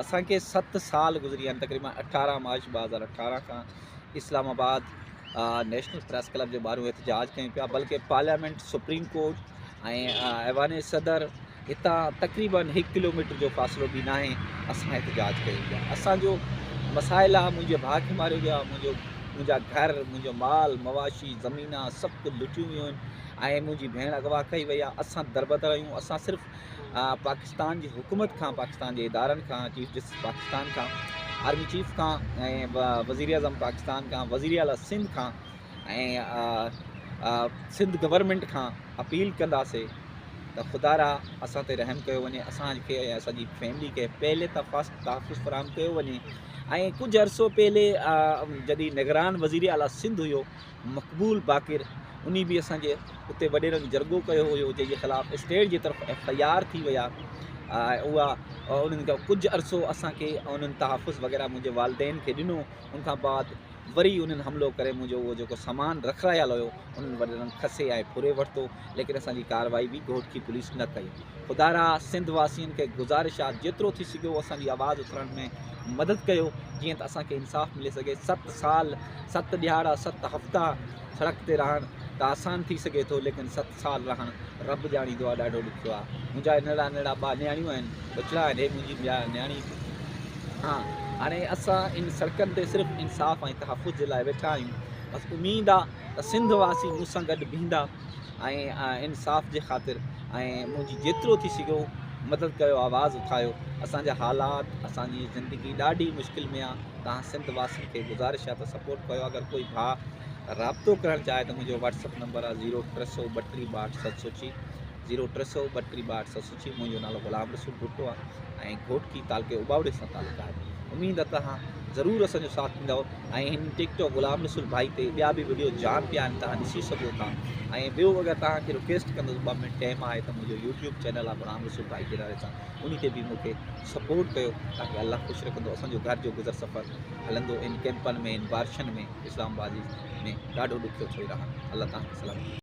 اسان کي ست سال گذري ويا آهن تقريبن اٺارهن مارچ ٻه هزار اٺارهن کان Islamabad national press club جي ٻاهريون احتجاج ڪيون پيا بلڪه parliament supreme court ۽ Aiwan Sadr هتان تقريبن هڪ ڪلوميٽر جو فاصلو به ناهي اسان احتجاج ڪيون پيا اسانجو مسائل آ منهنجي ڀاء کي ماريو ويو آهي منهنجو منهنجا گهر منهنجو مال مواشي زمينا سڀ ڪجهه لٽيون ويون آهن ۽ منهنجي ڀيڻ اغوا ڪئي وئي آهي اسان دربدر آهيون اسان صرف پاڪستان جي حڪومت کان، پاڪستان جي ادارن کان، چيف جسٽس پاڪستان کان، آرمي چيف کان ۽ وزيراعظم پاڪستان کان، وزير اعليٰ سنڌ کان ۽ سنڌ گورنمينٽ کان اپيل ڪنداسي ته خدارا اسان تي رحم ڪيو وڃي اسان کي ۽ اسان جي فيملي کي پهلي ته فسٽ تحفظ فراهم ڪيو وڃي ۽ ڪجهه عرصو پهلي جڏهن نگران وزير اعليٰ سنڌ هيو مقبول باقر انهي به اسان جي اتي وڏيرن جو جرڳو ڪيو هيو جنهن جي خلاف اسٽيٽ جي طرف ايف آئي آر ٿي وئي آهي ۽ اها انهن کي ڪجهه عرصو اسان کي انهن تحفظ وغيره منهنجي والدين کي ڏنو ان کان بعد وري انهن حملو ڪري منهنجو اهو جيڪو سامان رکرايل هيو انهن وڏيرن کسي ۽ ڦري ورتو ليڪن اسان جي ڪارروائي به گهوٽڪي پوليس نه ڪئي خدا را سنڌ واسين کي گذارش آ جيترو ٿي سگهيو اسان جي آواز اٿرڻ ۾ مدد ڪيو جيئن ته اسان کي انصاف ملي سگهي ست سال ست ڏهاڙا ست هفتا سڙڪ تي رهڻ ته آسان ٿي سگهي ٿو ليڪن ست سال رهڻ رب ڄاڻيندو آ ڏاڍو ڏکيو آ منهنجا ننڙا ننڙا ٻا نياڻيون آهن ٻچڙا آهن هي منهنجي ٻيا نياڻي ها هاڻي اسان ان سڙڪن تي صرف انصاف ۽ تحفظ جي لاء ويٺا آهيون بس اميد آ ته سنڌ واسي مون سان گڏ بيهندا ۽ انصاف جي خاطر ۽ منهنجي جيترو ٿي سگهيو مدد ڪيو آواز اٿايو اسان جا حالات اسان جي زندگي ڏاڍي مشڪل ۾ آهي توهان سنڌ واسين کي گذارش آهي ته سپورٽ ڪيو اگر ڪوئي ڀاء رابطو ڪرڻ چاهي ته منهنجو واٽس اپ نمبر آهي زيرو ٽي سؤ ٻٽيهه ٻاهٺ ست سؤ چي زيرو ٽي سؤ ٻٽيهه ٻاهٺ ست سؤ جي منهنجو نالو غلام رسول ڀٽو آهي ۽ گهوٽڪي تعلقي اوٻاوڙي سان تعلق آهي اميد آهي توهان ضرور اسان جو ساٿ ڏيندؤ ۽ هن ٽڪ ٽاڪ غلام رسول ڀائي تي ٻيا به وڊيو جام پيا آهن توهان ڏسي سگهو ٿا ۽ ٻيو اگر توهان کي رڪويسٽ ڪندس ٻه منٽ ٽائم آهي ته منهنجو يوٽيوب چينل آهي غلام رسول ڀائي جي نالي سان ان تي به مونکي سپورٽ ڪيو تاڪي الله خوش رکندو اسان جو گهر جو گذر سفر هلندو ان ڪيمپن ۾ ان بارشن ۾ اسلام آباد ۾ ڏاڍو ڏکيو ٿي رهان الله توهان کي سلامت